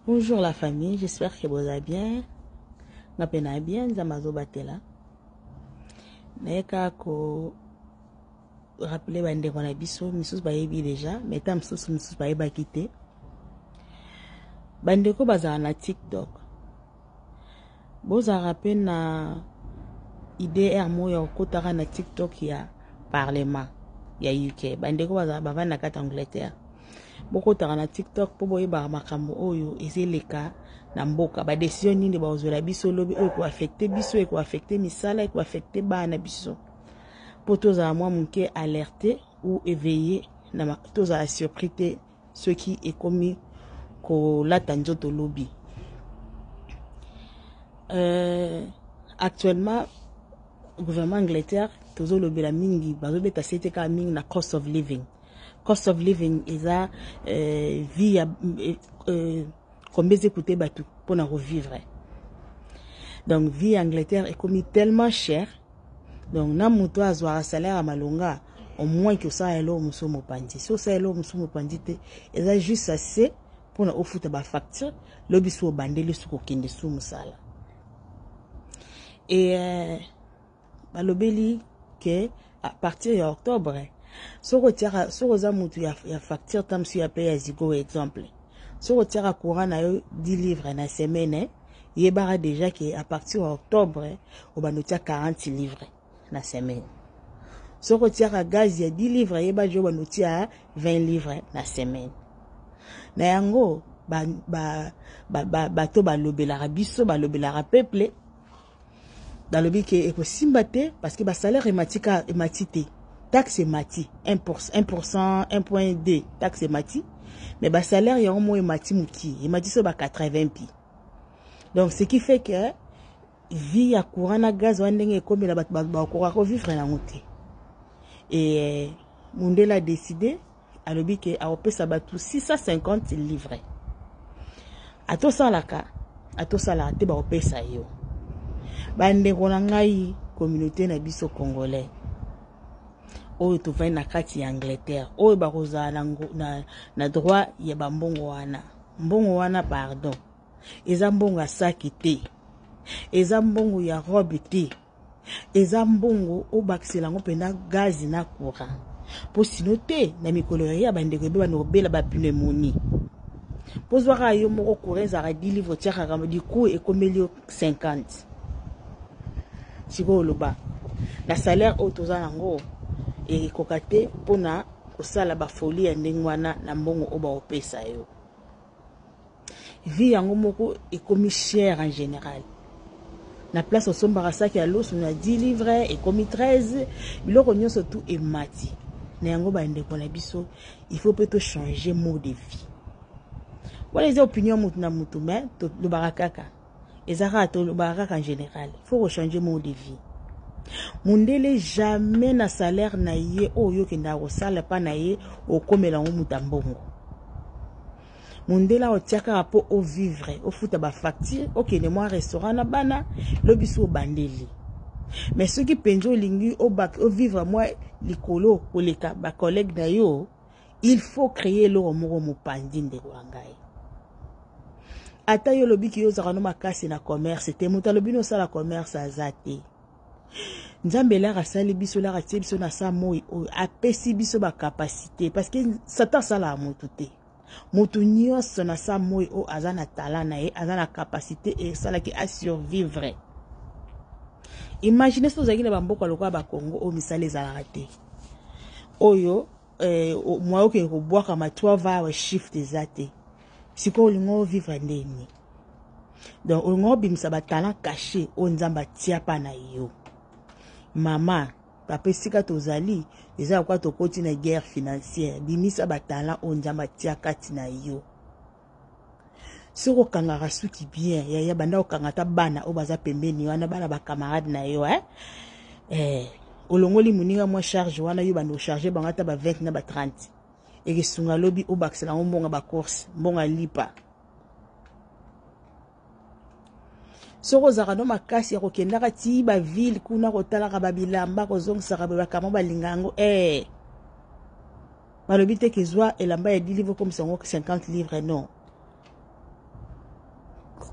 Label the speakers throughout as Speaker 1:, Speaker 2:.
Speaker 1: Bonjour la famille, j'espère que boza bien. Nga pe na bien, nzambe azobatela. Naye kaka ko rappeler bandeko na biso misusu bayebi deja mais ta misusu misusu bayebaki te bandeko bazala na tiktok bozalaka mpe na idr moko ya kokotaka na tiktok ya parlement ya uk bandeko bazalaka bavandi na kati ya angleterre bokotaka na tiktok mpo boyebaka makambo oyo ezeleka na mboka badesizio nini bakozwela biso lobi oyo ekoafekte biso ekoafekte misala ekoafekte bana na biso mpo tozala mwa moke alerte ou éveillé tozala surpris te soki ekomi kolata nzoto lobi euh, actuellement gouvernement angleterre tozolobela mingi bazobeta sete kaka mingi na cost of living cost of living eza euh, vie ya euh, euh combien eza ekute bato mpo na kovivre donc vie ya angleterre ekomi tellement cher donc na moto oyo azwaka salaire ya malonga au moins ke osala eloko mosusu mopanzi so osala eloko mosusu mopanzi te eza juste assez mpo na ofuta bafacture lobi so obandeli su kokende su mosala e euh, balobeli ke à partir ya octobre soki otiaka soki oza mutu ya, ya facture ta mosusu ya pe ya zigo exemple soki otiaka courant na yo 10 livre na semaine yebaka déjà ke à partir ya octobre obanda otia 40 livre na semaine soki otiaka gaz ya 10 livre yeba je obanda otia 20 livre na semaine na yango bato ba, ba, ba, ba, balobelaka biso balobelaka peuple balobi ke ekosimba te parce que basalaire emati ka emati te taxe emati 1 1.2 taxe emati mais basalaire yango moko emati moki emati so ba 80 pi donc ce qui fait que vie ya courant na gaz wana ndenge ekomela bato bakoka kovivre yango te e mundele adeside alobi ke akopesa bato 650 livre ata osalaka ata osalaka te bakopesa yo bandeko na ngai communauté na biso congolais oyo tovandi na kati ya angleterre oyo bakozala na, na, na droit ya bambongo wana mbongo wana pardon eza mbongo ya saki te eza mbongo ya robe te eza mbongo obakisela yango mpena gazi na courant mpo sino te na mikolo ya ya bandeko ebe bana obela bapneumoni mpo zwaka yo moko courant ezalaka 10 livre otiakaka liku ekomeli yo 50 sikoyo oloba na salaire oyo toza nango ekoka te mpona kosala bafoli ya ndenge wana na mbongo oyo baopesa yo vie yango moko ekomi cher en général na place osombaka saki ya loso na 10 livre ekomi 13 biloko nyonso tu emati na yango bandeko na biso il faut mpe tochange mot de vie wana eza opinion moto na moto me tolobaka kaka eza kaka tolobaka kaka en général faut kochange mot de vie mundele jamais na salaire na ye oyo yo okendaka kosala mpa na ye okomela yango moto ya mbongo mundele aotya kaka mpo ovivre ofuta bafacture okende mwa restaurant na bana lobi so obandeli mais soki mpenza olingi ovivre mwa likolo koleka bacollègue na yo il faut créer eloko moko mopanzi ndeko ya ngai ata yo olobi ki yo ozalaka no makasi na commerce te moto alobi nosala commerce aza te nzambe elaka asali biso elaka atie biso na sa moi oyo apesi biso bacapacité parce que satan asalaka motu te motu nyonso na sa moi oyo aza na talent na ye aza na capacité esalaki asurvivre imagine soki ozalaki na bamboka lokola bakongo oyo misala ezalaka te oyo eh, mwa okende kobwakama trois va awa shift eza te sikoyo olingi ovivre ndenge nini donc olingi obimisa batalent cache oyo nzambe atia mpa na yo mama papa esika tozali eza lokola tokoti na guerre financière bimisa batalent oyo nzambe atia kati na yo soki okangaka suki bien yaya banda okanga ata bana oyo baza pembeni wana bana bacamarade na yo eh? Eh, olongoli moninga mwa charge wana yo banda ocharge bango ata ba 20 na ba 30 ekesunga lobi obakisela yango mbonga bacourse mbonga lipa soki ozalaka no makasi ya kokendaka ti bavile kuna kotalaka babilamba kozongisaka boye bakama balinga yango ee eh. balobi te kezwa elamba ya 10 livre okomisa yango 50 livre non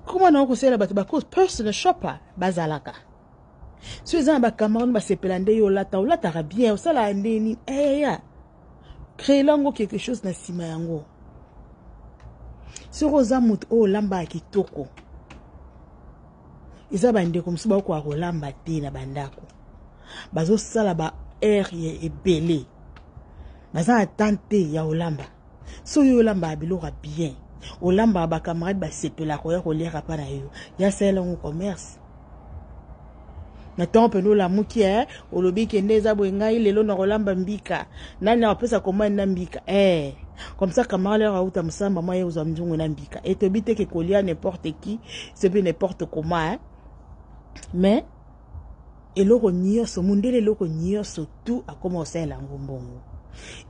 Speaker 1: koma nango kosalela bato bacause personal shopper bazalaka so eza na bacamarade basepela nde yo olata olataka bien osalaka ndeni eya eh, Creela ngo quelque chose na sima yango. Soki oza moto oyo olambaka kitoko, eza bandeko mosusu bakokoka kolamba te na bandako bazosala ba heure ya ebele baza na temps te ya kolamba soki yo olambaka biloko ya bien olambaka bacamarade basepelaka oya koliaka mpa na yo yasalela yango commerce na ntongo mpenza olamuki e eh, olobi kende eza boye ngai lelo nakolamba mbika nani akopesa komani na mbika e eh, comme ça camarade yako auta mosamba mwa ye kozwa mzungu na mbika e toyebi te ke kolia n'importe qui soki n'importe comment eh. mais eloko nyonso mondele eloko nyonso tu akoma kosalela yango mbongo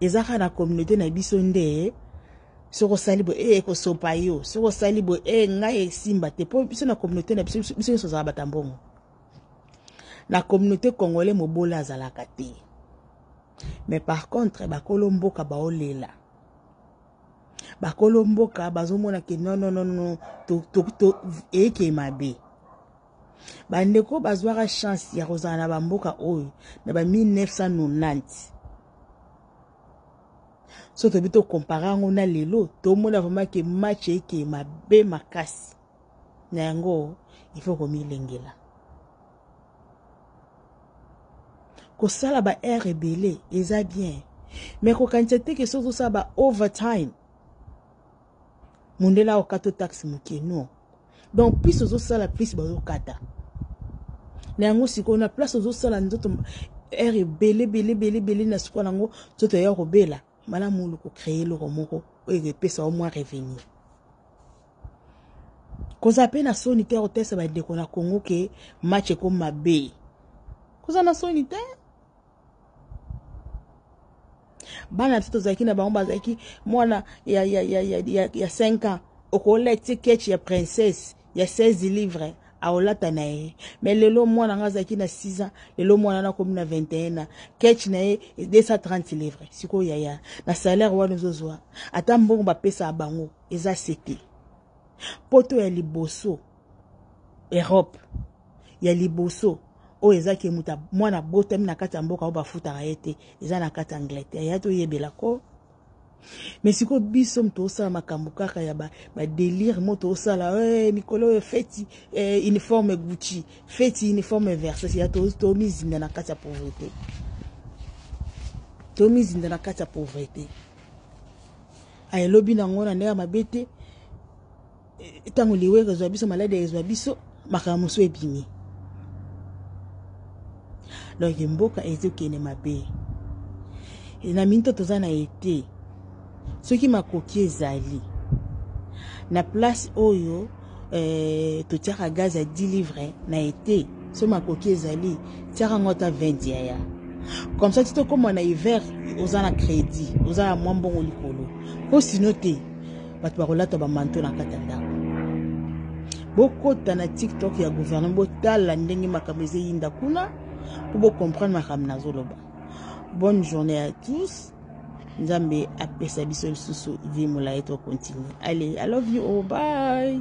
Speaker 1: eza kaka na communauté na biso nde soki osali boye e eh, ekosopa yo soki osali boye e eh, ngai esimba te mpo biso na communauté na biso biso nyonso ozala bata mbongo na communauté congolais mobola azalaka te mais par contre bakolo mboka baolela bakolo mboka bazomona ke nononono eyeke mabe bandeko bazwaka chance ya kozala na bamboka oyo na ba 1990 so tobi to compare yango na lelo tomona vraiment ke match eke mabe makasi na yango il faut komilengela kosala ba heure ebele eza bien me kokanisa te ke soki ozosala ba overtime mondele aokata taxe moke non donc plus ozosala plus bazokata na yango sikoyo na place ozosala nzoto aire ebele ebele ebele ebele na sikoyo na yango nzoto eya kobela malamu olu kocreye eloko moko oyo ekopesa yo mwa revenu kozala mpe na soni te kotesa bandeko na congo ke match ekoma mabe kozala na soni te bana biso tozalaki na bango bazalaki mwana ya, ya, ya, ya, ya, ya 5 ans okola ti keche ya princesse ya 16 livre aolata na ye me lelo mwana nga azalaki na 6 ans lelo mwana nakomi na 21 ans keche na ye 230 livre sikoyo yaya na salaire wana ozozwa ata mbongo bapesaka bango eza sete poto ya liboso europe ya liboso oyo eza ke moto mwana abotami na kati ya mboka oyo bafutaka ye te eza na kati ya angleterre ya toyebela ko me sikoyo biso moto osala makambo kaka ya badelire ba moto osala hey, eh, mikolo oyo feti eh, uniforme gucci feti uniforme verses ya tomizinda to na kati ya pauvrete tomizinda na kati ya pauvrete ayelobi na yango na ndenge ya mabe te ntango eh, liwere ezwa biso maladi ezwa biso makambo mosusu ebimi donk mboka ezokende mabe eh, na minito toza na ete soki makoki ezali na place oyo eh, totiaka gaz ya 10 livre na ete so makoki ezali tiaka yango ata 20 yaya comme ça ti tokóma na hiver oza na crédit oza na mwa mbongo likolo mpo sino te bato bakolata bamanto na kati ya ndako bokota na tiktok ya gouvernement botala ndenge makambo ezeyinda kuna mpo bocomprendre makambo nazoloba bonne journée à tous nzambe apesa biso lisusu vie molai tocontinue allez i love you oh bye